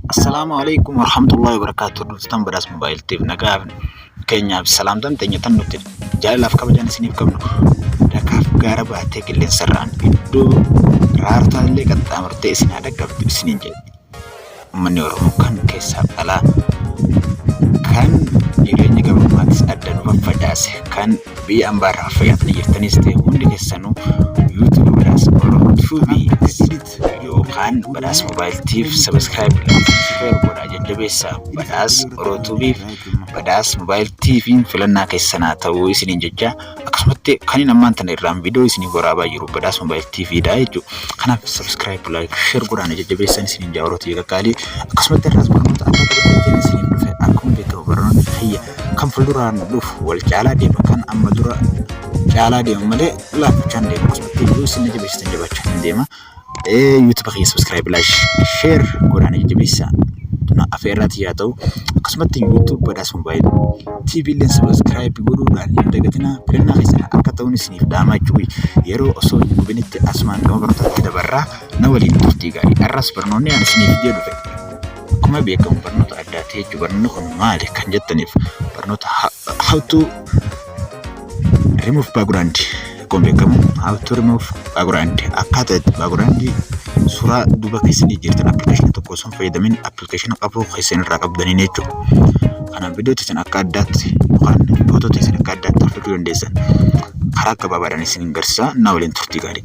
Assalaamu alaikum warahmatullahi wabarakatuh Durstan badhaas mobaayil tiif nagaa keenyaaf salaamtan teenya tan nuti jaalalaaf kabajaan isiniif qabnu dakaaf gaara baatee qilleensarraan iddoo raartaa illee qaxxaamurtee isin haa dhaqqabdu isiniin jedhe uummanni Oromoo kan keessaaf alaa kan jireenya gabrummaattis adda nu faffacaase kan biyya ambaarraa fayyadamanii jirtanis ta'e hundi keessanuu yuutuubii badhaas Oromoo tuubii yookaan badhaas moobaayiltiif sabiskiraayib sheer godhaa jajjabeessa badhaas orootuubiif badhaas moobaayiltiifiin filannaa keessanaa ta'uu isiniin jecha akkasumatti kanin ammaan tana irraan viidiyoo isiniif waraabaa jiru badhaas moobaayiltiifiidha jechuudha kanaaf sabiskiraayib laayik sheer godhaan jajjabeessan isiniin jaa orootuu eegagaalii akkasumatti irraas barnoota adda addaa isiniin dhufe akkuma beekamu barnoonni fayya kan fuulduraan dhufu wal caalaa deema kan amma dura caalaa deema malee laaffachaan deema akkasumatti iyyuu isin na jabeessitan jabaachaa isin deema yuutuba kiyya subscribe laash sheer godhaan na jabeessa na afeerraati yaa ta'u akkasumatti yuutuub badhaas moobaayil TV illeen subscribe godhuudhaan hin dagatinaa filannaa keessan akka ta'uun isiniif dhaamaa jiru yeroo osoo hin gubinitti asumaan gama barnootaatti dabarraa na waliin turtii gaarii har'as barnoonni ani isiniif jedhu Akkuma beekamu barnoota addaati jechuudha. Barnoonni kun maali kan jettaniif barnoota how to remove background akkuma beekamu how to remove background akkaataa itti background suuraa duuba keessanii jirtan appilikeeshinii tokko osoo hin fayyadamin appilikeeshinii qabuu keessan irraa qabdaniin jechuudha. Kanaaf viidiyoo teessan akka addaatti yookaan footoo teessan akka addaatti hordofuu dandeessan karaa gabaabaadhaan isin garsiisaa na waliin turtii gaarii.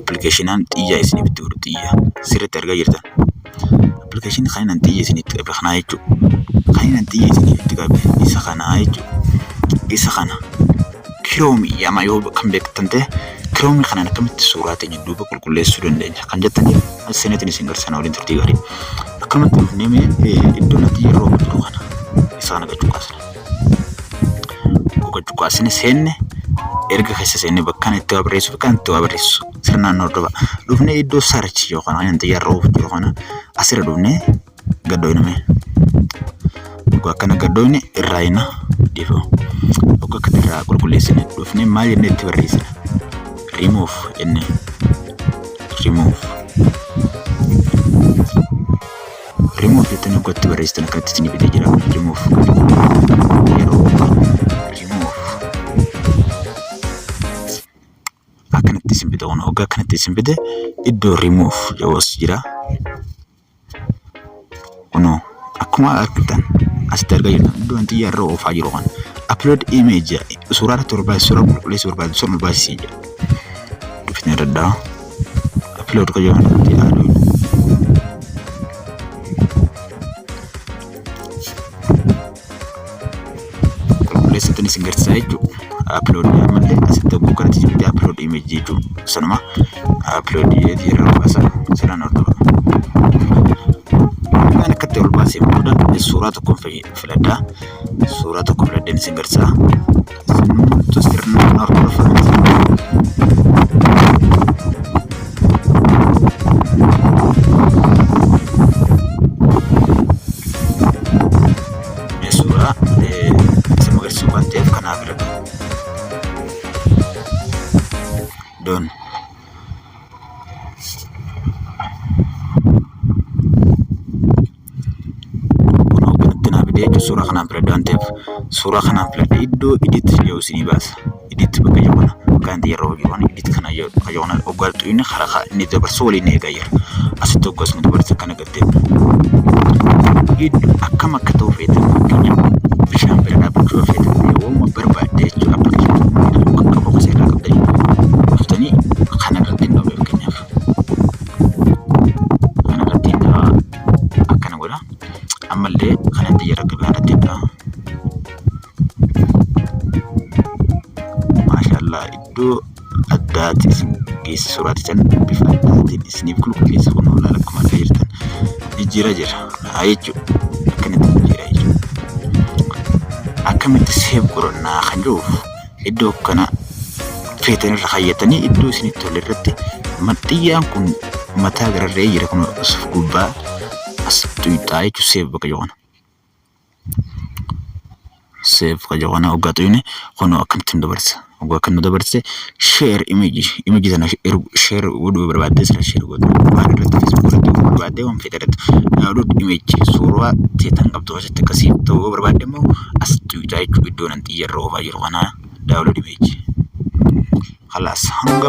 appilikeeshinaan xiyya isiniif itti godhu xiyya sirriitti argaa jirtan. Appilikeeshinii kan inni xiyya isiniif itti qabe kanaa jechuudha. Kan inni xiyya isiniif itti qabe isa kanaa jechuudha. Isa kana kiroomi yama yoo kan beektan ta'e kiroomi kanaan akkamitti suuraa teenya duuba qulqulleessuu dandeenya kan jettaniif as seenetiin isin garsiisana waliin turtii gaarii. Akkamitti dhufnee mee iddoo natti yeroo jiru kana isa kana gachuu kaasna. Goga cuqaasni seenne erga keessa seenne bakkaan itti waa barreessuuf kan itti waa barreessu sirnaan hordofa. Dhufnee iddoo sarchi yookaan kan xiyyaarra oofu jiru kana asirra dhufnee gaddoofne mee. Dhugaa akkana gaddoofne irraa hina dhiifama. Dhugaa akka irraa qulqulleessine dhufnee maal jennee itti barreessina. Remove jennee. Remove. Remove jettanii akka itti barreessitan akkatti isinii fidee jira. Remove yeroo remove akkanatti isin fida kun hoggaa akkanatti isin fide iddoo remove jedhus jira. Kunoo akkuma argitan asitti argaa jirtan iddoo wanti irra oofaa jiru kan upload image suuraa irratti barbaadu suuraa qulqulleessuu barbaadu sun barbaachisiin jedha. Dubbisni irra dhaa. upload qoyyoon irratti aaduun qulqulleessatti isin garsiisaa jechuudha upload ammallee asitti oguu kanatti jirti upload image jechuun sanuma upload fi yeroo baasa sanaan hordofa kan akkatti ol baasee booda suuraa tokko filadhaa suuraa tokko filadheen isin garsiisaa Isinumtu sirna kana hordofa miti. Suuraa isin agarsiisuu waan ta'eef kanaa bira doon. Kunoo kanatti naa fidee jechuun suuraa kanaan filadha waan ta'eef suuraa kanaan filadha iddoo edit jedhu isinii baasa. Edit bakka jedhu kana bakka inni yeroo hojii waan edit kana jedhu bakka jedhu kana hoggaa tuqxu inni karaa kaa inni dabarsu waliin ni eegaa jira. Asitti hoggaa isin dabarsa kana gattee iddoo akkam akka ta'u feetan fakkeenyaaf bishaan bira dhaabbachuu yoo feetan waanuma barbaadde jechuudha appilikeeshinii kan qabu seeraa qabdanii dhuftanii kana irratti hin dhowwe fakkeenyaaf. Kanarratti biraa akkana godha. Ammallee kanatti jira gabaa irratti biraa. Maashaallah iddoo addaati isin geessi suuraa titan bifa addaatiin isiniif qulqulleessa kun hoolaan akkuma argaa jirtan jijjiira jira. Haa jechuudha. Akkanatti jijjiira jechuudha. Akkamitti seef godhannaa kan jiruuf iddoo kana feetan irra kaayyatanii iddoo isinitti tole irratti maxxiyyaan kun mataa gararree jira kun asuf gubbaa as tuyxaa jechuun seef bakka joona. Seef bakka joona hoggaa tuyne kun akkanatti nu dabarsa. Hoggaa akkan nu dabarse sheer imeeji imeeji sana sheer godhuu barbaaddee sana sheer godhuu waan irratti feesbuuk irratti godhuu barbaaddee waan feete irratti daawulood imeeji suuraa teetan qabdu asitti akkasii ta'uu barbaadde immoo as tuyxaa jechuun iddoo nan yerro ofa jiru kana download page. Khalas hanga